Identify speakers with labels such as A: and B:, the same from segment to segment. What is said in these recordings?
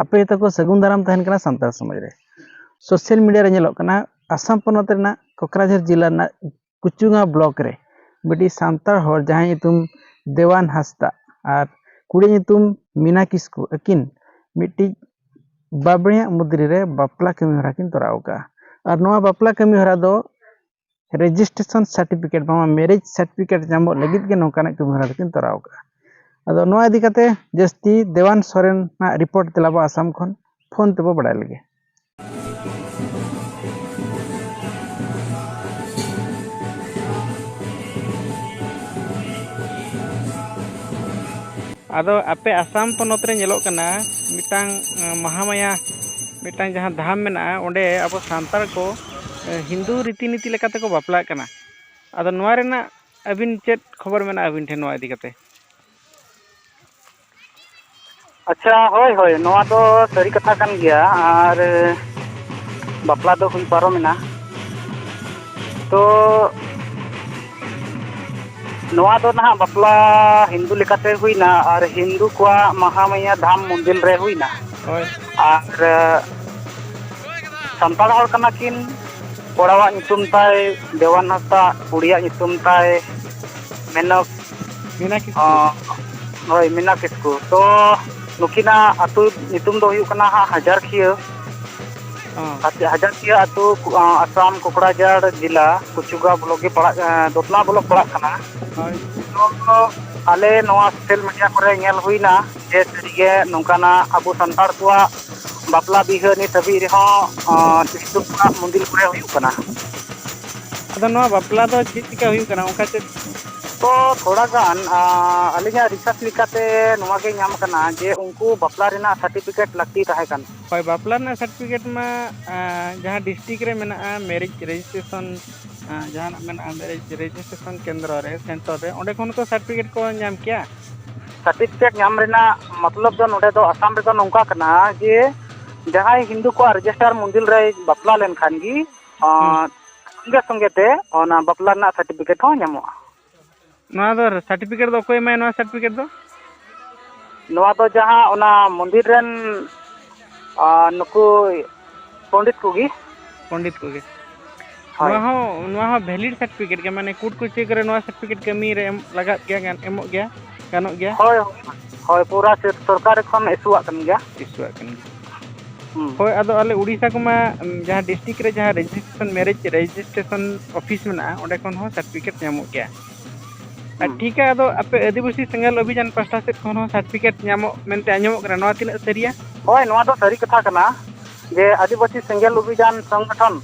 A: ᱟᱯᱮ ᱛᱟᱠᱚ ᱥᱟᱹᱜᱩᱱ ᱫᱟᱨᱟᱢ ᱛᱟᱦᱮᱱ ᱠᱟᱱᱟ ᱥᱟᱱᱛᱟᱲ ᱥᱚᱢᱟᱡᱽ ᱨᱮ ᱥᱳᱥᱟᱞ ᱢᱤᱰᱤᱭᱟ ᱨᱮ ᱧᱮᱞᱚᱜ ᱠᱟᱱᱟ ᱟᱥᱟᱢ ᱯᱚᱱᱚᱛ ᱨᱮᱱᱟᱜ ᱠᱚᱠᱨᱟᱡᱷᱟᱨ ᱡᱮᱞᱟ ᱨᱮᱱᱟᱜ ᱠᱩᱪᱩᱝᱟ ᱵᱞᱚᱠ ᱨᱮ ᱢᱤᱫᱴᱤᱡ ᱥᱟᱱᱛᱟᱲ ᱦᱚᱲ ᱡᱟᱦᱟᱸᱭ ᱧᱩᱛᱩᱢ ᱫᱮᱣᱟᱱ ᱦᱟᱸᱥᱫᱟ ᱟᱨ ᱠᱩᱲᱤ ᱧᱩᱛᱩᱢ ᱢᱤᱱᱟ ᱠᱤᱥᱠᱩ ᱟᱹᱠᱤᱱ ᱢᱤᱫᱴᱤᱡ ᱵᱟᱵᱽᱲᱮᱭᱟᱜ ᱢᱩᱫᱽᱨᱤ ᱨᱮ ᱵᱟᱯᱞᱟ ᱠᱟᱹᱢᱤ ᱦᱚᱨᱟ ᱠᱤᱱ ᱛᱚᱨᱟᱣ ᱠᱟᱜᱼᱟ ᱟᱨ ᱱᱚᱣᱟ ᱵᱟᱯᱞᱟ ᱠᱟᱹᱢᱤ ᱦᱚᱨᱟ ᱫᱚ ᱨᱮᱡᱤᱥᱴᱨᱮᱥᱚᱱ ᱥᱟᱨᱴᱤᱯᱷᱤᱠᱮᱴ ᱵᱟᱝᱢᱟ ᱢᱮᱨᱮᱡᱽ ᱥᱟᱨᱴᱤᱯᱷᱤᱠᱮᱴ ᱧᱟᱢᱚᱜ ᱞᱟᱹᱜᱤᱫ ᱜᱮ ᱱᱚᱝᱠᱟᱱᱟᱜ ᱠᱟᱹᱢᱤ ᱦᱚᱨᱟ ᱫᱚᱠᱤᱱ ᱛᱚᱨᱟᱣ ᱠᱟᱜᱼᱟ ᱟᱫᱚ ᱱᱚᱣᱟ ᱤᱫᱤ ᱠᱟᱛᱮ ᱡᱟᱹᱥᱛᱤ ᱫᱮᱣᱟᱱ ᱥᱚᱨᱮᱱ ᱟᱜ ᱨᱤᱯᱳᱨᱴ ᱛᱮᱞᱟ ᱵᱚ ᱟᱥᱟᱢ ᱠᱷᱚᱱ ᱯᱷᱳᱱ ᱛᱮᱵᱚ ᱵᱟᱲᱟᱭ ᱞᱮᱜᱮ ᱟᱫᱚ ᱟᱯᱮ ᱟᱥᱟᱢ ᱯᱚᱱᱚᱛ ᱨᱮ ᱧᱮᱞᱚᱜ ᱠᱟᱱᱟ ᱢᱤᱫᱴᱟᱝ ᱢᱟᱦᱟᱢᱟᱭᱟ ᱢᱤᱫᱴᱟᱝ ᱡᱟᱦᱟᱸ ᱫᱷᱟᱢ ᱢᱮᱱᱟᱜᱼᱟ ᱚᱸᱰᱮ ᱟᱵᱚ ᱥᱟᱱᱛᱟᱲ ᱠᱚ ᱦᱤᱱᱫᱩ ᱨᱤᱛᱤ ᱱᱤᱛᱤ ᱞᱮᱠᱟ ᱛᱮᱠᱚ ᱵᱟᱯᱞᱟᱜ ᱠᱟᱱᱟ ᱟᱫᱚ ᱱᱚᱣᱟ ᱨᱮᱱᱟᱜ ᱟᱹᱵᱤᱱ ᱪᱮᱫ ᱠᱷᱚᱵᱚᱨ ᱢᱮᱱᱟᱜᱼᱟ ᱟᱹᱵᱤᱱ ᱴᱷᱮᱱ ᱱᱚᱣᱟ ᱤᱫᱤ ᱠᱟᱛᱮᱫ
B: ᱟᱪᱪᱷᱟ ᱦᱳᱭ ᱦᱳᱭ ᱱᱚᱣᱟ ᱫᱚ ᱥᱟᱹᱨᱤ ᱠᱟᱛᱷᱟ ᱠᱟᱱ ᱜᱮᱭᱟ ᱟᱨ ᱵᱟᱯᱞᱟ ᱫᱚ ᱦᱩᱭ ᱯᱟᱨᱚᱢᱮᱱᱟ ᱛᱚ ᱱᱚᱣᱟ ᱫᱚ ᱱᱟᱦᱟᱜ ᱵᱟᱯᱞᱟ ᱦᱤᱱᱫᱩ ᱞᱮᱠᱟᱛᱮ ᱦᱩᱭᱱᱟ ᱟᱨ ᱦᱤᱱᱫᱩ ᱠᱚᱣᱟᱜ ᱢᱟᱦᱟᱢᱟᱭᱟ ᱫᱷᱟᱢ ᱢᱚᱱᱫᱤᱨ ᱨᱮ ᱦᱩᱭᱱᱟ ᱦᱳᱭ ᱟᱨ ᱥᱟᱱᱛᱟᱲ ᱦᱚᱲ ᱠᱟᱱᱟ ᱠᱤᱱ ᱠᱚᱲᱟᱣᱟᱜ ᱧᱩᱛᱩᱢ ᱛᱟᱭ ᱫᱮᱣᱟᱱ ᱦᱟᱸᱥᱫᱟ ᱠᱩᱲᱤᱭᱟᱜ ᱧᱩᱛᱩᱢ ᱛᱟᱭ ᱢᱮᱱᱚᱠ
A: ᱢᱤᱱᱟ ᱠᱤᱥᱠᱩ
B: ᱚᱸ, ᱦᱳᱭ ᱢᱤᱱᱟ ᱠᱤᱥᱠᱩ ᱛᱚ ᱱᱩᱠᱤᱱᱟᱜ ᱟᱹᱛᱩ ᱧᱩᱛᱩᱢ ᱫᱚ ᱦᱩᱭᱩᱜ ᱠᱟᱱᱟ ᱦᱟᱸᱜ ᱦᱟᱡᱟᱨᱠᱷᱤᱭᱟᱹ ᱚ ᱟᱪᱪᱷᱟ ᱦᱟᱡᱟᱨᱠᱷᱤᱭᱟᱹ ᱟᱹᱛᱩ ᱚᱸ, ᱟᱥᱟᱢ ᱠᱚᱠᱲᱟᱡᱟᱲ ᱡᱮᱞᱟ ᱠᱩᱪᱩᱜᱟ ᱵᱞᱚᱠ ᱜᱮ ᱯᱟᱲᱟᱜ ᱮᱸ, ᱫᱚᱛᱢᱟ ᱵᱞᱚᱠ ᱯᱟᱲᱟᱜ ᱠᱟᱱᱟ ᱦᱳᱭ ᱱᱚᱣᱟ ᱫᱚ ᱟᱞᱮ ᱱᱚᱣᱟ ᱥᱳᱥᱟᱞ ᱢᱤᱰᱤᱭᱟ ᱠᱚᱨᱮ ᱧᱮᱞ ᱦᱩᱭᱱᱟ ᱡᱮ ᱥᱟᱹᱨᱤᱜᱮ ᱱᱚᱝᱠᱟᱱᱟᱜ ᱟᱵᱚ ᱥᱟᱱᱛᱟᱲ ᱠᱚᱣᱟᱜ ᱵᱟᱯᱞᱟ ᱵᱤᱦᱟᱹ ᱱᱤᱛ ᱦᱟᱹᱵᱤᱡ ᱨᱮᱦᱚᱸ ᱥᱤᱥᱴ ᱠᱷᱚᱱᱟᱜ ᱢᱚᱱᱫᱤᱨ ᱠᱚᱨᱮ ᱦᱩᱭᱩᱜ ᱠᱟᱱᱟ
A: ᱟᱫᱚ ᱱᱚᱣᱟ ᱵᱟᱯᱞᱟ ᱫᱚ ᱪᱮᱫ ᱪᱤᱠᱠᱟ ᱦᱩᱭᱩᱜ ᱠᱟᱱᱟ ᱚᱱᱠᱟ ᱪᱮᱫ ᱛᱚ ᱛᱷᱚᱲᱟ
B: ᱜᱟᱱ ᱟᱹᱞᱤᱧᱟᱜ ᱨᱤᱥᱟᱨᱪ ᱞᱮᱠᱟᱛᱮ ᱱᱚᱣᱟ ᱜᱮ ᱧᱟᱢ ᱠᱟᱱᱟ ᱡᱮ ᱩᱱᱠᱩ ᱵᱟᱯᱞᱟ ᱨᱮᱱᱟᱜ ᱥᱟᱨᱴᱤᱯᱷᱤᱠᱮᱴ ᱞᱟᱹᱠᱛᱤ ᱛᱟᱦᱮᱸ ᱠᱟᱱᱟ ᱦᱳᱭ ᱵᱟᱯᱞᱟ ᱨᱮᱱᱟᱜ
A: ᱥᱟᱨᱴᱤᱯᱷᱤᱠᱮᱴ ᱢᱟ ᱡᱟᱦᱟᱸ ᱰᱤᱥᱴᱤᱠ ᱨᱮ ᱢᱮᱱᱟᱜᱼᱟ ᱢᱮᱨᱤᱡ ᱨᱮᱡᱤᱥᱴᱨᱮᱥᱚᱱ ᱡᱟᱦᱟᱱᱟᱜ ᱢᱮᱱᱟᱜᱼᱟ ᱨᱮᱡᱤᱥᱴᱨᱮᱥᱚᱱ ᱠᱮᱱᱫᱨᱚ ᱨᱮ ᱥᱮᱱᱴᱟᱨ ᱨᱮ ᱚᱸᱰᱮ ᱠᱷᱚᱱ ᱦᱚᱸ ᱛᱚ ᱥᱟᱨᱴᱤᱯᱷᱤᱠᱮᱴ ᱠᱚ ᱧᱟᱢ ᱠᱮᱭᱟ ᱥᱟᱨᱴᱤᱯᱷᱤᱠᱮᱴ
B: ᱧᱟᱢ ᱨᱮᱱᱟᱜ ᱢᱚᱛᱞᱚᱵ ᱫᱚ ᱱᱚᱰᱮ ᱫᱚ ᱟᱥᱟᱢ ᱨᱮᱫᱚ ᱱᱚᱝᱠᱟ ᱠᱟᱱᱟ ᱡᱮ ᱡᱟᱦᱟᱸᱭ ᱦᱤᱱᱫᱩ ᱠᱚᱣᱟᱜ ᱨᱮᱡᱤᱥᱴᱟᱨ ᱢᱚᱱᱫᱤᱨ ᱨᱮᱭ ᱵᱟᱯᱞᱟ ᱞᱮᱱᱠᱷᱟᱱ ᱜᱮ ᱥᱚᱸᱜᱮ ᱥᱚᱸᱜᱮ ᱛᱮ ᱚᱱᱟ ᱵᱟᱯᱞᱟ ᱨᱮᱱᱟᱜ ᱥᱟᱨᱴᱤᱯᱷᱤᱠᱮᱴ ᱦᱚᱸ ᱧᱟᱢᱚᱜᱼᱟ ᱱᱚᱣᱟ
A: ᱫᱚ ᱥᱟᱨᱴᱤᱯᱷᱤᱠᱮᱴ ᱫᱚ ᱚᱠᱚᱭ ᱮᱢᱟᱭᱟ ᱱᱚᱣᱟ ᱥᱟᱨᱴᱤᱯᱷᱤᱠᱮᱴ ᱫᱚ
B: ᱱᱚᱣᱟ ᱫᱚ ᱡᱟᱦᱟᱸ ᱚᱱᱟ ᱢᱚᱱᱫᱤᱨ ᱨᱮᱱ ᱟᱨ ᱱᱩᱠᱩ ᱯᱚᱱᱰᱤᱛ ᱠᱚᱜᱮ ᱯᱚᱱᱰᱤᱛ ᱠᱚᱜᱮ ᱦᱳᱭ ᱱᱚᱣᱟ ᱦᱚᱸ ᱱᱚᱣᱟ ᱦᱚᱸ ᱵᱷᱮᱞᱤᱰ ᱥᱟᱨᱴᱤᱯᱷᱤᱠᱮᱴ ᱜᱮ ᱢᱟᱱᱮ ᱠᱳᱨᱴ ᱠᱚ ᱪᱮᱠ ᱨᱮ ᱱᱚᱣᱟ ᱥᱟᱨᱴᱤᱯᱷᱤᱠᱮᱴ ᱠᱟᱹᱢᱤ ᱨᱮ ᱮᱢ ᱞᱟᱜᱟᱜ ᱜᱮᱭᱟ ᱜᱟᱱ ᱮᱢᱚᱜ ᱜᱮᱭᱟ ᱜᱟᱱᱚᱜ ᱜᱮᱭᱟ ᱦᱳᱭ ᱦᱳᱭ ᱯᱩᱨᱟᱹ ᱥᱚᱨᱠᱟᱨᱤ ᱠᱷᱚᱱ ᱤᱥᱩᱣᱟᱜ ᱠᱟᱱ ᱜᱮᱭᱟ ᱤᱥᱩᱣᱟᱜ ᱠᱟᱱ ᱜᱮᱭᱟ ᱦᱩᱸ ᱦᱳᱭ
A: ᱟᱫᱚ ᱟᱞᱮ ᱩᱲᱤᱥᱥᱟ ᱠᱚᱢᱟ ᱡᱟᱦᱟᱸ ᱰᱤᱥᱴᱤᱠ ᱨᱮ ᱡᱟᱦᱟᱸ ᱨᱮᱡᱤᱥᱴᱨᱮᱥᱚᱱ ᱢᱮᱨᱮᱡᱽ ᱨᱮᱡᱤᱥᱴᱨᱮᱥᱚᱱ ᱚᱯᱷᱤᱥ ᱢᱮᱱᱟᱜᱼᱟ ᱚᱸᱰᱮ ᱠᱷᱚᱱ ᱦᱚᱸ ᱥᱟᱨᱴᱤᱯᱷᱤᱠᱮᱴ ᱧᱟᱢᱚᱜ ᱜᱮᱭᱟ ᱟᱨ ᱴᱷᱤᱠᱟ ᱟᱫᱚ ᱟᱯᱮ ᱟᱹᱫᱤᱵᱟᱹᱥᱤ ᱥᱮᱸᱜᱮᱞ ᱚᱵᱷᱤᱡᱟᱱ ᱯᱟᱥᱴᱟ ᱥᱮᱫ ᱠᱷᱚᱱ ᱦᱚᱸ ᱥᱟᱨᱴᱤᱯᱷᱤᱠᱮᱴ ᱧᱟᱢᱚᱜ ᱢᱮᱱᱛᱮ ᱟᱸᱡᱚᱢᱚᱜ ᱠᱟᱱᱟ ᱱᱚᱣᱟ ᱛᱤᱱᱟᱹᱜ ᱥᱟᱹᱨᱤᱭᱟ ᱦᱳᱭ ᱱᱚᱣᱟ ᱫᱚ ᱥᱟᱹᱨᱤ
B: ᱠᱟᱛᱷᱟ ᱠᱟᱱᱟ ᱡᱮ ᱟᱹᱫᱤᱵᱟᱹᱥᱤ ᱥᱮᱸᱜᱮᱞ ᱚᱵᱷᱤᱡᱟᱱ ᱥᱚᱝᱜᱚᱴᱷᱚᱱ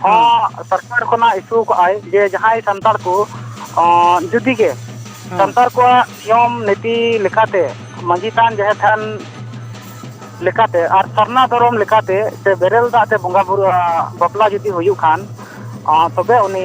B: ᱦᱚᱸ ᱥᱚᱨᱠᱟᱨ ᱠᱷᱚᱱᱟᱜ ᱤᱥᱩ ᱠᱟᱜᱼᱟᱭ ᱡᱮ ᱡᱟᱦᱟᱸᱭ ᱥᱟᱱᱛᱟᱲ ᱠᱚ ᱡᱩᱫᱤ ᱜᱮ ᱥᱟᱱᱛᱟᱲ ᱠᱚᱣᱟᱜ ᱱᱤᱭᱚᱢ ᱱᱤᱛᱤ ᱞᱮᱠᱟᱛᱮ ᱢᱟᱺᱡᱷᱤ ᱛᱷᱟᱱ ᱡᱟᱦᱮᱨ ᱛᱷᱟᱱ ᱞᱮᱠᱟᱛᱮ ᱟᱨ ᱥᱟᱨᱱᱟ ᱫᱷᱚᱨᱚᱢ ᱞᱮᱠᱟᱛᱮ ᱥᱮ ᱵᱮᱨᱮᱞ ᱫᱟᱜ ᱛᱮ ᱵᱚᱸᱜᱟᱼᱵᱩᱨᱩ ᱵᱟᱯᱞᱟ ᱡᱩᱫᱤ ᱦᱩᱭᱩᱜ ᱠᱷᱟᱱ ᱛᱚᱵᱮ ᱩᱱᱤ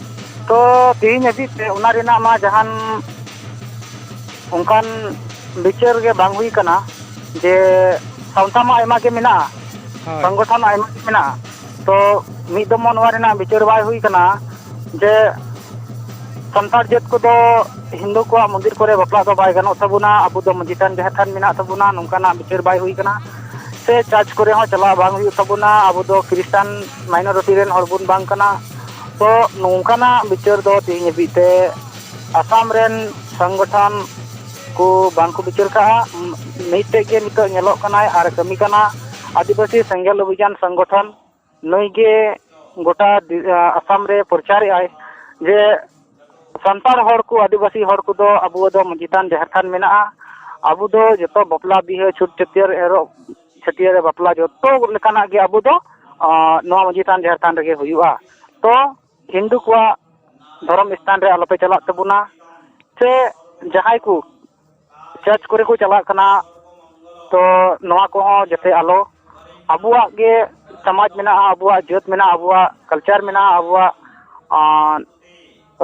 A: ᱛᱚ
B: ᱛᱮᱦᱮᱧ ᱦᱟᱹᱵᱤᱡ ᱛᱮ ᱚᱱᱟ ᱨᱮᱱᱟᱜ ᱢᱟ ᱡᱟᱦᱟᱱ ᱚᱱᱠᱟᱱ ᱵᱤᱪᱟᱹᱨ ᱜᱮ ᱵᱟᱝ ᱦᱩᱭ ᱠᱟᱱᱟ ᱡᱮ ᱥᱟᱶᱛᱟ ᱢᱟ ᱟᱭᱢᱟ ᱜᱮ ᱢᱮᱱᱟᱜᱼᱟ ᱦᱳᱭ ᱥᱚᱝᱜᱚᱴᱷᱚᱱ ᱟᱭᱢᱟ ᱜᱮ ᱢᱮᱱᱟᱜᱼᱟ ᱛᱚ ᱢᱤᱫ ᱫᱚᱢ ᱦᱚᱸ ᱱᱚᱣᱟ ᱨᱮᱱᱟᱜ ᱵᱤᱪᱟᱹᱨ ᱵᱟᱭ ᱦᱩᱭ ᱠᱟᱱᱟ ᱡᱮ ᱥᱟᱱᱛᱟᱲ ᱡᱟᱹᱛ ᱠᱚᱫᱚ ᱦᱤᱱᱫᱩ ᱠᱚᱣᱟᱜ ᱢᱚᱱᱫᱤᱨ ᱠᱚᱨᱮ ᱵᱟᱯᱞᱟᱜ ᱫᱚ ᱵᱟᱭ ᱜᱟᱱᱚᱜ ᱛᱟᱵᱚᱱᱟ ᱟᱵᱚ ᱫᱚ ᱢᱟᱺᱡᱷᱤ ᱛᱷᱟᱱ ᱡᱟᱦᱮᱨ ᱛᱷᱟᱱ ᱢᱮᱱᱟᱜ ᱛᱟᱵᱚᱱᱟ ᱱᱚᱝᱠᱟᱱᱟᱜ ᱵᱤᱪᱟᱹᱨ ᱵᱟᱭ ᱦᱩᱭ ᱠᱟᱱᱟ ᱥᱮ ᱪᱟᱨᱪ ᱠᱚᱨᱮ ᱦᱚᱸ ᱪᱟᱞᱟᱜ ᱵᱟᱝ ᱦᱩᱭᱩᱜ ᱛᱟᱵᱚᱱᱟ ᱟᱵᱚ ᱫᱚ ᱠᱷᱨᱤᱥᱴᱟᱱ ᱢᱟᱭᱱᱚᱨᱚᱴᱤ ᱨᱮᱱ ᱦᱚᱲ ᱵᱚᱱ ᱵᱟᱝ ᱠᱟᱱᱟ ᱛᱚ ᱱᱚᱝᱠᱟᱱᱟᱜ ᱵᱤᱪᱟᱹᱨ ᱫᱚ ᱛᱮᱦᱮᱧ ᱦᱟᱹᱵᱤᱡ ᱛᱮ ᱟᱥᱟᱢ ᱨᱮᱱ ᱥᱚᱝᱜᱚᱴᱷᱚᱱ ᱠᱚ ᱵᱟᱝ ᱠᱚ ᱵᱤᱪᱟᱹᱨ ᱠᱟᱜᱼᱟ ᱢᱤᱫᱴᱮᱡ ᱜᱮ ᱱᱤᱛᱚᱜ ᱧᱮᱞᱚᱜ ᱠᱟᱱᱟᱭ ᱟᱨ ᱠᱟᱹᱢᱤ ᱠᱟᱱᱟ ᱟᱹᱫᱤᱵᱟᱹᱥᱤ ᱥᱮᱸᱜᱮᱞ ᱚᱵᱷᱤᱡᱟᱱ ᱥᱚᱝᱜᱚᱴᱷᱚᱱ ᱱᱩᱭ ᱜᱮ ᱜᱚᱴᱟ ᱟᱥᱟᱢ ᱨᱮ ᱯᱨᱚᱪᱟᱨᱮᱜᱼᱟᱭ ᱡᱮ ᱥᱟᱱᱛᱟᱲ ᱦᱚᱲ ᱠᱚ ᱟᱹᱫᱤᱵᱟᱹᱥᱤ ᱦᱚᱲ ᱠᱚᱫᱚ ᱟᱵᱚ ᱫᱚ ᱢᱟᱹᱡᱷᱤ ᱛᱷᱟᱱ ᱡᱟᱦᱮᱨ ᱛᱷᱟᱱ ᱢᱮᱱᱟᱜᱼᱟ ᱟᱵᱚ ᱫᱚ ᱡᱚᱛᱚ ᱵᱟᱯᱞᱟ ᱵᱤᱦᱟᱹ ᱪᱷᱩᱸᱛ ᱪᱷᱟᱹᱴᱭᱟᱹᱨ ᱮᱨᱚᱜ ᱪᱷᱟᱹᱴᱭᱟᱹᱨ ᱨᱮ ᱵᱟᱯᱞᱟ ᱡᱚᱛᱚ ᱞᱮᱠᱟᱱᱟᱜ ᱜᱮ ᱟᱵᱚ ᱫᱚ ᱱᱚᱣᱟ ᱢᱟᱹᱡᱷᱤ ᱛᱷᱟᱱ ᱡᱟᱦᱮᱨ ᱛᱷᱟᱱ ᱨᱮᱜᱮ ᱦᱩᱭᱩᱜᱼᱟ ᱛᱚ ᱦᱤᱱᱫᱩ ᱠᱚᱣᱟᱜ ᱫᱷᱚᱨᱚᱢ ᱥᱛᱷᱟᱱ ᱨᱮ ᱟᱞᱚᱯᱮ ᱪᱟᱞᱟᱜ ᱛᱟᱵᱚᱱᱟ ᱥᱮ ᱡᱟᱦᱟᱸᱭ ᱠᱚ ᱪᱟᱨᱪ ᱠᱚᱨᱮ ᱠᱚ ᱪᱟᱞᱟᱜ ᱠᱟᱱᱟ ᱛᱚ ᱱᱚᱣᱟ ᱠᱚᱦᱚᱸ ᱡᱟᱛᱮ ᱟᱞᱚ ᱟᱵᱚᱣᱟᱜ ᱜᱮ ᱥᱚᱢᱟᱡᱽ ᱢᱮᱱᱟᱜᱼᱟ ᱟᱵᱚᱣᱟᱜ ᱡᱟᱹᱛ ᱢᱮᱱᱟᱜᱼᱟ ᱟᱵᱚᱣᱟᱜ ᱠᱟᱞᱪᱟᱨ ᱢᱮᱱᱟᱜᱼᱟ ᱟᱵᱚᱣᱟᱜ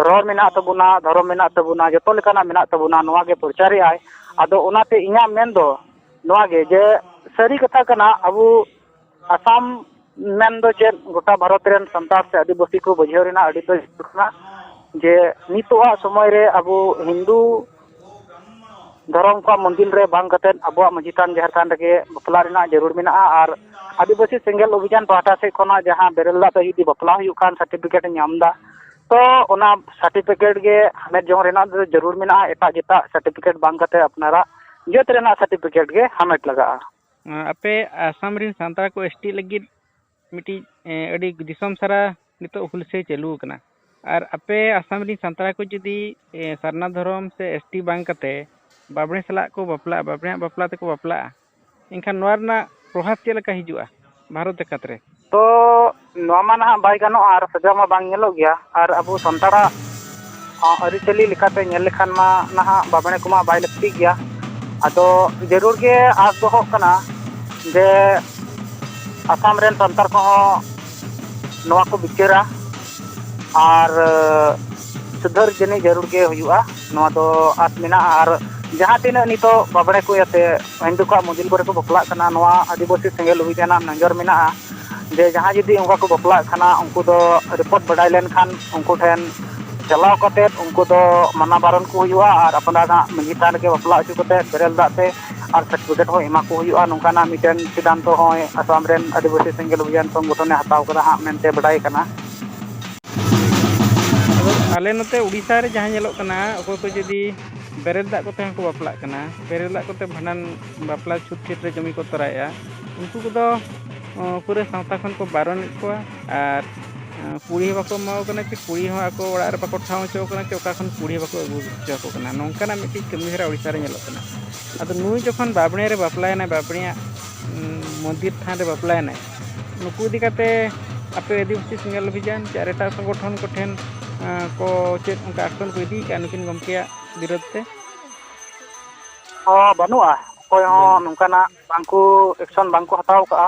B: ᱨᱚᱲ ᱢᱮᱱᱟᱜ ᱛᱟᱵᱚᱱᱟ ᱫᱷᱚᱨᱚᱢ ᱢᱮᱱᱟᱜ ᱛᱟᱵᱚᱱᱟ ᱡᱚᱛᱚ ᱞᱮᱠᱟᱱᱟᱜ ᱢᱮᱱᱟᱜ ᱛᱟᱵᱚᱱᱟ ᱱᱚᱣᱟᱜᱮ ᱯᱨᱚᱪᱟᱨᱮᱜ ᱟᱭ ᱟᱫᱚ ᱚᱱᱟᱛᱮ ᱤᱧᱟᱹᱜ ᱢᱮᱱᱫᱚ ᱱᱚᱣᱟ ᱜᱮ ᱡᱮ ᱥᱟᱹᱨᱤ ᱠᱟᱛᱷᱟ ᱠᱟᱱᱟ ᱟᱵᱚ ᱟᱥᱟᱢ ᱢᱮᱱ ᱫᱚ ᱪᱮᱫ ᱜᱚᱴᱟ ᱵᱷᱟᱨᱚᱛ ᱨᱮᱱ ᱥᱟᱱᱛᱟᱲ ᱥᱮ ᱟᱹᱫᱤᱵᱟᱹᱥᱤ ᱠᱚ ᱵᱩᱡᱷᱟᱹᱣ ᱨᱮᱱᱟᱜ ᱟᱹᱰᱤ ᱛᱮᱫ ᱡᱟᱹᱨᱩᱲ ᱠᱟᱱᱟ ᱡᱮ ᱱᱤᱛᱚᱜ ᱟᱜ ᱥᱚᱢᱚᱭ ᱨᱮ ᱟᱵᱚ ᱦᱤᱱᱫᱩ ᱫᱷᱚᱨᱚᱢ ᱠᱚᱣᱟᱜ ᱢᱚᱱᱫᱤᱨ ᱨᱮ ᱵᱟᱝ ᱠᱟᱛᱮᱫ ᱟᱵᱚᱣᱟᱜ ᱢᱟᱹᱡᱷᱤ ᱛᱷᱟᱱ ᱡᱟᱦᱮᱨ ᱛᱷᱟᱱ ᱨᱮᱜᱮ ᱵᱟᱯᱞᱟ ᱨᱮᱱᱟᱜ ᱡᱟᱹᱨᱩᱲ ᱢᱮᱱᱟᱜᱼᱟ ᱟᱨ ᱟᱹᱫᱤᱵᱟᱹᱥᱤ ᱥᱮᱸᱜᱮᱞ ᱚᱵᱷᱤᱡᱟᱱ ᱯᱟᱦᱴᱟ ᱥᱮᱫ ᱠᱷᱚᱱᱟᱜ ᱡᱟᱦᱟᱸ ᱵᱮᱨᱮᱞ ᱫᱟᱜ ᱛᱮ ᱡᱩᱫᱤ ᱵᱟᱯᱞᱟ ᱦᱩᱭᱩᱜ ᱠᱷᱟᱱ ᱥᱟᱨᱴᱤᱯᱷᱤᱠᱮᱴ ᱮ ᱧᱟᱢᱫᱟ ᱛᱚ ᱚᱱᱟ ᱥᱟᱨᱴᱤᱯᱷᱤᱠᱮᱴ ᱜᱮ ᱦᱟᱢᱮᱴ ᱡᱚᱝ ᱨᱮᱱᱟᱜ ᱫᱚ ᱡᱟᱹᱨᱩᱲ ᱢᱮᱱᱟᱜᱼᱟ ᱮᱴᱟᱜ ᱡᱮᱴᱟᱜ ᱥᱟᱨᱴᱤᱯᱷᱤᱠᱮᱴ ᱵᱟᱝ ᱠᱟᱛᱮ ᱟᱯᱱᱟᱨᱟᱜ ᱡᱟᱹᱛ ᱨᱮᱱᱟᱜ ᱥᱟᱨᱴᱤᱯᱷᱤᱠᱮᱴ ᱜᱮ ᱦᱟᱢᱮᱴ ᱞᱟᱜᱟᱜᱼᱟ ᱟᱯᱮ
A: ᱟᱥᱟᱢ ᱨᱮᱱ ᱥᱟᱱᱛᱟᱲ ᱠᱚ ᱮᱥ ᱴᱤ ᱞᱟᱹᱜᱤᱫ ᱢᱤᱫᱴᱤᱡ ᱟᱹᱰᱤ ᱫᱤᱥᱚᱢ ᱥᱟᱨᱟ ᱱᱤᱛᱚᱜ ᱦᱩᱞᱥᱟᱹᱭ ᱪᱟᱹᱞᱩ ᱟᱠᱟᱱᱟ ᱟᱨ ᱟᱯᱮ ᱟᱥᱟᱢ ᱨᱮᱱ ᱥᱟᱱᱛᱟᱲ ᱠᱚ ᱡᱩᱫᱤ ᱥᱟᱨᱱᱟ ᱫᱷᱚᱨᱚᱢ ᱥᱮ ᱮᱥ ᱴᱤ ᱵᱟᱝ ᱠᱟᱛᱮ ᱵᱟᱸᱵᱽᱲᱮ ᱥᱟᱞᱟᱜ ᱠᱚ ᱵᱟᱯᱞᱟᱜᱼᱟ ᱵᱟᱸᱵᱽᱲᱮᱭᱟᱜ ᱵᱟᱯᱞᱟ ᱛᱮᱠᱚ ᱵᱟᱯᱞᱟᱜᱼᱟ ᱮᱱᱠᱷᱟᱱ ᱱᱚᱣᱟ ᱨᱮᱱᱟᱜ ᱯᱨᱚᱵᱷᱟᱵᱽ ᱪᱮᱫ ᱞᱮᱠᱟ ᱦᱤᱡᱩᱜᱼᱟ ᱵᱷᱟᱨᱚᱛ ᱡᱟᱠᱟᱛ ᱨᱮ ᱛᱚ
B: ᱱᱚᱣᱟ ᱢᱟ ᱱᱟᱦᱟᱜ ᱵᱟᱭ ᱜᱟᱱᱚᱜᱼᱟ ᱟᱨ ᱥᱟᱡᱟᱣ ᱢᱟ ᱵᱟᱝ ᱧᱮᱞᱚᱜ ᱜᱮᱭᱟ ᱟᱨ ᱟᱵᱚ ᱥᱟᱱᱛᱟᱲᱟᱜ ᱟᱹᱨᱤᱪᱟᱹᱞᱤ ᱞᱮᱠᱟᱛᱮ ᱧᱮᱞ ᱞᱮᱠᱷᱟᱱ ᱢᱟ ᱱᱟᱦᱟᱜ ᱵᱟᱸᱵᱽᱲᱮ ᱠᱚᱢᱟ ᱵᱟᱭ ᱞᱟᱹᱠᱛᱤ ᱜᱮᱭᱟ ᱟᱫᱚ ᱡᱟᱹᱨᱩᱲ ᱜᱮ ᱟᱸᱥ ᱫᱚᱦᱚᱜ ᱠᱟᱱᱟ ᱡᱮ ᱟᱥᱟᱢ ᱨᱮᱱ ᱥᱟᱱᱛᱟᱲ ᱠᱚᱦᱚᱸ ᱱᱚᱣᱟ ᱠᱚ ᱵᱤᱪᱟᱹᱨᱟ ᱟᱨ ᱥᱩᱫᱷᱟᱹᱨ ᱡᱟᱹᱱᱤᱡ ᱡᱟᱹᱨᱩᱲ ᱜᱮ ᱦᱩᱭᱩᱜᱼᱟ ᱱᱚᱣᱟ ᱫᱚ ᱟᱸᱥ ᱢᱮᱱᱟᱜᱼᱟ ᱟᱨ ᱡᱟᱦᱟᱸ ᱛᱤᱱᱟᱹᱜ ᱱᱤᱛᱚᱜ ᱵᱟᱸᱵᱽᱲᱮ ᱠᱚ ᱤᱭᱟᱹᱛᱮ ᱦᱤᱱᱫᱩ ᱠᱚᱣᱟᱜ ᱢᱚᱱᱫᱤᱨ ᱠᱚᱨᱮ ᱠᱚ ᱵᱟᱯᱞᱟᱜ ᱠᱟᱱᱟ ᱱᱚᱣᱟ ᱟᱹᱫᱤᱵᱟᱹᱥᱤ ᱥᱮᱸᱜᱮᱞ ᱚᱵᱷᱤᱡᱟᱱ ᱨᱮᱱᱟᱜ ᱱᱚᱡᱚᱨ ᱢᱮᱱᱟᱜᱼᱟ ᱡᱮ ᱡᱟᱦᱟᱸᱭ ᱡᱩᱫᱤ ᱚᱱᱠᱟ ᱠᱚ ᱵᱟᱯᱞᱟᱜ ᱠᱟᱱᱟ ᱩᱱᱠᱩ ᱫᱚ ᱨᱤᱯᱳᱨᱴ ᱵᱟᱰᱟᱭ ᱞᱮᱱᱠᱷᱟᱱ ᱩᱱᱠᱩ ᱴᱷᱮᱱ ᱪᱟᱞᱟᱣ ᱠᱟᱛᱮᱫ ᱩᱱᱠᱩ ᱫᱚ ᱢᱟᱱᱟ ᱵᱟᱨᱚᱱ ᱠᱚ ᱦᱩᱭᱩᱜᱼᱟ ᱟᱨ ᱟᱯᱱᱟᱨᱟᱜ ᱢᱟᱺᱡᱷᱤ ᱛᱷᱟᱱ ᱨᱮᱜᱮ ᱵᱟᱯᱞᱟ ᱦᱚᱪᱚ ᱠᱟᱛᱮᱫ ᱵᱮᱨᱮᱞ ᱫᱟᱜ ᱛᱮ ᱟᱨ ᱥᱟᱨᱴᱤᱯᱷᱤᱠᱮᱴ ᱦᱚᱸ ᱮᱢᱟ ᱠᱚ ᱦᱩᱭᱩᱜᱼᱟ ᱱᱚᱝᱠᱟᱱᱟᱜ ᱢᱤᱫᱴᱮᱱ ᱥᱤᱫᱽᱫᱷᱟᱱᱛᱚ ᱦᱚᱸᱭ ᱟᱥᱟᱢ ᱨᱮᱱ ᱟᱹᱫᱤᱵᱟᱹᱥᱤ ᱥᱮᱸᱜᱮᱞ ᱚᱵᱷᱤᱡᱟᱱ ᱥᱚᱝᱜᱚᱴᱷᱚᱱᱮ ᱦᱟᱛᱟᱣ ᱠᱟᱫᱟ ᱦᱟᱸᱜ ᱢᱮᱱᱛᱮ ᱵᱟᱰᱟᱭ ᱠᱟᱱᱟ᱾ ᱟᱫᱚ
A: ᱟᱞᱮ ᱱᱚᱛᱮ ᱩᱰᱤᱥᱥᱟ ᱨᱮ ᱡᱟᱦᱟᱸ ᱧᱮᱞᱚᱜ ᱠᱟᱱᱟ ᱚᱠᱚᱭ ᱠᱚ ᱡᱩᱫᱤ ᱵᱮᱨᱮᱞ ᱫᱟᱜ ᱠᱚᱛᱮ ᱦᱚᱸᱠᱚ ᱵᱟᱯᱞᱟᱜ ᱠᱟᱱᱟ ᱵᱮᱨᱮᱞ ᱫᱟᱜ ᱠᱚᱛᱮ ᱵᱷᱟᱸᱰᱟᱱ ᱵᱟᱯᱞᱟ ᱪᱷᱩᱸᱛ ᱪᱷᱟᱹᱴᱭᱟᱹᱨ ᱨᱮ ᱠᱟᱹᱢᱤ ᱠᱚ ᱛᱚᱨᱟᱭᱮᱜᱼᱟ ᱩᱱᱠᱩ ᱠᱚᱫᱚ ᱯᱩᱨᱟᱹ ᱥᱟᱶᱛᱟ ᱠᱷᱚᱱ ᱠᱚ ᱵᱟᱨᱚᱱᱮᱫ ᱠᱚᱣᱟ ᱟᱨ ᱠᱩᱲᱤ ᱦᱚᱸ ᱵᱟᱠᱚ ᱮᱢᱟ ᱠᱚ ᱠᱟᱱᱟ ᱪᱮ ᱠᱩᱲᱤ ᱦᱚᱸ ᱟᱠᱚ ᱚᱲᱟᱜ ᱨᱮ ᱵᱟᱠᱚ ᱴᱷᱟᱶ ᱦᱚᱪᱚ ᱠᱟᱱᱟ ᱪᱮ ᱚᱠᱟ ᱠᱷᱚᱱ ᱠᱩᱲᱤ ᱦᱚᱸ ᱵᱟᱠᱚ ᱟᱹᱜᱩ ᱦᱚᱪᱚ ᱟᱠᱚ ᱠᱟᱱᱟ ᱱᱚᱝᱠᱟᱱᱟᱜ ᱢᱤᱫᱴᱤᱡ ᱠᱟᱹᱢᱤᱦᱚᱨᱟ ᱳᱰᱤᱥᱟ ᱨᱮ ᱧᱮᱞᱚᱜ ᱠᱟᱱᱟ ᱟᱫᱚ ᱱᱩᱭ ᱡᱚᱠᱷᱚᱱ ᱵᱟᱸᱵᱽᱲᱮ ᱨᱮ ᱵᱟᱯᱞᱟᱭᱮᱱᱟᱭ ᱵᱟᱸᱵᱽᱲᱮᱭᱟᱜ ᱢᱚᱱᱫᱤᱨ ᱛᱷᱟᱱ ᱨᱮ ᱵᱟᱯᱞᱟᱭᱮᱱᱟᱭ ᱱᱩᱠᱩ ᱤᱫᱤ ᱠᱟᱛᱮ ᱟᱯᱮ ᱟᱹᱫᱤᱵᱟᱹᱥᱤ ᱥᱮᱸᱜᱮᱞ ᱚᱵᱷᱤᱡᱟᱱ ᱪᱮ ᱟᱨ ᱮᱴᱟᱜ ᱥᱚᱝᱜᱚᱴᱷᱚᱱ ᱠᱚᱴᱷᱮᱱ ᱠᱚ ᱪᱮᱫ ᱚᱱᱠᱟ ᱮᱠᱥᱚᱱ ᱠᱚ ᱤᱫᱤ ᱠᱟᱜᱼᱟ ᱱᱩᱠᱤᱱ ᱜᱚᱢᱠᱮᱭᱟᱜ ᱵᱤᱨᱩᱫᱽ ᱛᱮ ᱦᱚᱸ ᱵᱟᱹᱱᱩᱜᱼᱟ ᱚᱠᱚᱭ ᱦᱚᱸ
B: ᱵᱟᱹᱱᱩᱜᱼᱟ ᱱᱚᱝᱠᱟᱱᱟᱜ ᱵᱟᱝᱠᱚ ᱮᱠᱥᱚᱱ ᱵᱟᱝᱠᱚ ᱦᱟᱛᱟᱣ ᱠᱟᱜᱼᱟ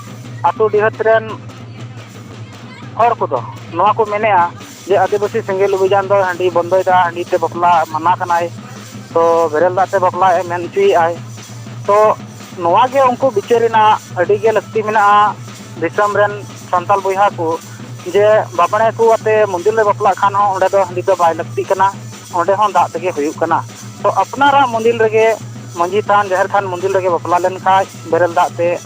B: ᱟᱛᱳ ᱰᱤᱦᱟᱹᱛ ᱨᱮᱱ ᱦᱚᱲ ᱠᱚᱫᱚ ᱱᱚᱣᱟ ᱠᱚ ᱢᱮᱱᱮᱫᱼᱟ ᱡᱮ ᱟᱹᱫᱤᱵᱟᱹᱥᱤ ᱥᱮᱸᱜᱮᱞ ᱚᱵᱷᱤᱡᱟᱱ ᱫᱚ ᱦᱟᱺᱰᱤ ᱵᱚᱱᱫᱚᱭᱮᱫᱟ ᱦᱟᱺᱰᱤ ᱛᱮ ᱵᱟᱯᱞᱟ ᱢᱟᱱᱟ ᱠᱟᱱᱟᱭ ᱛᱚ ᱵᱮᱨᱮᱞ ᱫᱟᱜ ᱛᱮ ᱵᱟᱯᱞᱟᱭ ᱢᱮᱱ ᱦᱚᱪᱚᱭᱮᱫᱼᱟᱭ ᱛᱚ ᱱᱚᱣᱟ ᱜᱮ ᱩᱱᱠᱩ ᱵᱤᱪᱟᱹᱨ ᱨᱮᱱᱟᱜ ᱟᱹᱰᱤ ᱜᱮ ᱞᱟᱹᱠᱛᱤ ᱢᱮᱱᱟᱜᱼᱟ ᱫᱤᱥᱚᱢ ᱨᱮᱱ ᱥᱟᱱᱛᱟᱲ ᱵᱚᱭᱦᱟ ᱠᱚ ᱡᱮ ᱵᱟᱸᱵᱽᱲᱮ ᱠᱚ ᱟᱛᱮ ᱢᱚᱱᱫᱤᱨ ᱨᱮ ᱵᱟᱯᱞᱟᱜ ᱠᱷᱟᱱ ᱦᱚᱸ ᱚᱸᱰᱮ ᱫᱚ ᱦᱟᱺᱰᱤ ᱫᱚ ᱵᱟᱭ ᱞᱟᱹᱠᱛᱤᱜ ᱠᱟᱱᱟ ᱚᱸᱰᱮ ᱦᱚᱸ ᱫᱟᱜ ᱛᱮᱜᱮ ᱦᱩᱭᱩᱜ ᱠᱟᱱᱟ ᱛᱚ ᱟᱯᱱᱟᱨᱟᱜ ᱢᱚᱱᱫᱤᱨ ᱨᱮᱜᱮ ᱢᱟᱹᱡᱷᱤ ᱛᱷᱟᱱ ᱡᱟᱦᱮᱨ ᱛᱷᱟᱱ ᱢᱚᱱᱫᱤᱨ ᱨᱮᱜᱮ ᱵᱟᱯᱞᱟ ᱞᱮᱱᱠᱷᱟᱱ ᱵᱮᱨᱮᱞ ᱫᱟᱜ ᱛᱮ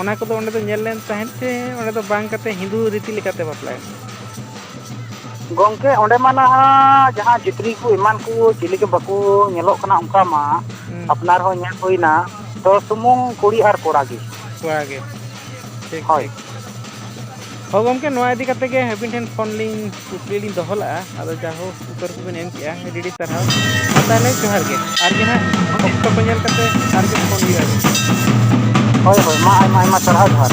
A: ᱚᱱᱟ ᱠᱚᱫᱚ ᱚᱸᱰᱮ ᱫᱚ ᱧᱮᱞ ᱞᱮᱱ ᱛᱟᱦᱮᱸᱫ ᱛᱮ ᱚᱸᱰᱮ ᱫᱚ ᱵᱟᱝ ᱠᱟᱛᱮ ᱦᱤᱱᱫᱩ ᱨᱤᱛᱤ ᱞᱮᱠᱟᱛᱮ ᱵᱟᱯᱞᱟᱭ ᱢᱮ ᱜᱚᱝᱠᱮ
B: ᱚᱸᱰᱮ ᱢᱟ ᱱᱟᱦᱟᱜ ᱡᱟᱦᱟᱸ ᱪᱟᱹᱛᱨᱤ ᱠᱚ ᱮᱢᱟᱱ ᱠᱚ ᱪᱤᱞᱤ ᱜᱮ ᱵᱟᱠᱚ ᱧᱮᱞᱚᱜ ᱠᱟᱱᱟ ᱚᱱᱠᱟ ᱢᱟ ᱦᱩᱸ ᱟᱯᱱᱟᱨ ᱦᱚᱸ ᱧᱮᱞ ᱦᱩᱭᱱᱟ ᱛᱚ ᱥᱩᱢᱩᱝ ᱠᱩᱲᱤ ᱟᱨ ᱠᱚᱲᱟ ᱜᱮ ᱠᱚᱲᱟ ᱜᱮ
A: ᱴᱷᱤᱠ ᱦᱳᱭ ᱴᱷᱤᱠ ᱦᱳᱭ ᱜᱚᱝᱠᱮ ᱱᱚᱣᱟ ᱤᱫᱤ ᱠᱟᱛᱮ ᱜᱮ ᱟᱹᱵᱤᱱ ᱴᱷᱮᱱ ᱯᱷᱳᱱ ᱞᱤᱧ ᱠᱩᱠᱞᱤ ᱞᱤᱧ ᱫᱚᱦᱚ ᱞᱟᱜᱼᱟ ᱟᱫᱚ ᱡᱟᱦᱳ ᱩᱛᱟᱹᱨ ᱠᱚᱵᱤᱱ ᱮᱢ ᱠᱮᱜᱼᱟ ᱟᱹᱰᱤ ᱟᱹᱰᱤ ᱥᱟᱨᱦᱟᱣ ᱢᱟ ᱛᱟᱦᱚᱞᱮ ᱡᱚᱦᱟᱨ ᱜᱮ ᱟᱨ ᱜᱮ ᱦᱟᱸᱜ ᱚᱠᱛᱚ ᱠᱚ ᱧᱮᱞ ᱠᱟᱛᱮ
B: ᱟᱨ
A: ᱜᱮ ᱯᱷᱳᱱ
B: ᱦᱩᱭᱩᱜᱼᱟ
A: ᱦᱳᱭ ᱦᱳᱭ ᱢᱟ
B: ᱟᱭᱢᱟ
A: ᱟᱭᱢᱟ ᱥᱟᱨᱦᱟᱣ
B: ᱡᱚᱦᱟᱨ